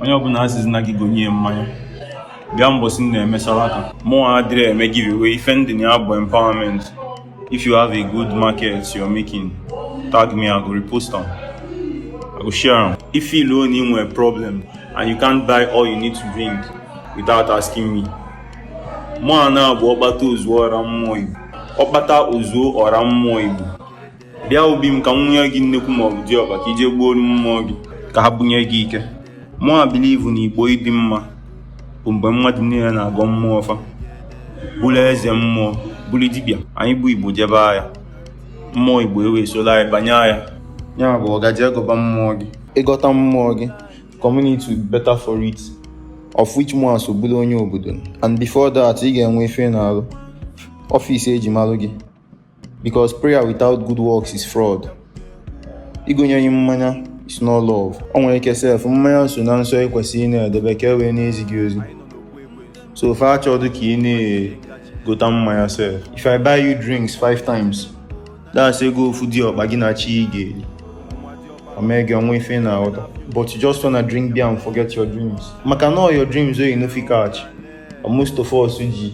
onye ọbụla asịzi na gị gonye mmanya bịa mbọsị m na-emesara aka mụ adịrị eme giveaway ife m dị na ya bụ empowerment if you have a good market you're making tag me i go repost am i go share am if you loan him a problem and you can't buy all you need to drink without asking me mụwa na-abụ ọkpata ozuo ọra mmụọ igbo ọkpata ozuo ọra mmụọ igbo bịa obi m ka m nwụnye gị nnekwu ma ọ bụ diọkpa ka i je gbuoro mmụọ gị ka ha bunye gị ike mụwa believe na igbo ịdị mma bụ mgbe mmadụ niile na-agọ mmụọ fa bụrụ eze mmụọ bụrụ dibịa anyị bụ igbo jebe agha mmụọ igbo ewee solu anyị banye agha ya bụ ọga je gọba mmụọ gị ị gọta mmụọ gị community will be better for it of which mụwa so bụrụ onye obodo and before that ị ga-enwe ife ị na-arụ ọfịs eji marụ gị Because prayer without good works is fraud. Igonye gị mmanya is not love. O nwere ike sef mmanya so na nsọ i kwesịrị na-edebe ka e wee na-ezi gị ozi. So fa achọdụ ka ị na-egota mmanya sef. If I buy you drinks five times, that's ego ofu diọkpa gị na chi gị ga-eli. O mee gị o nwe ife ị na-aghọta. But you just wanna drink beer and forget your dreams. Maka na all your dreams wey you no fit catch. Most of us ji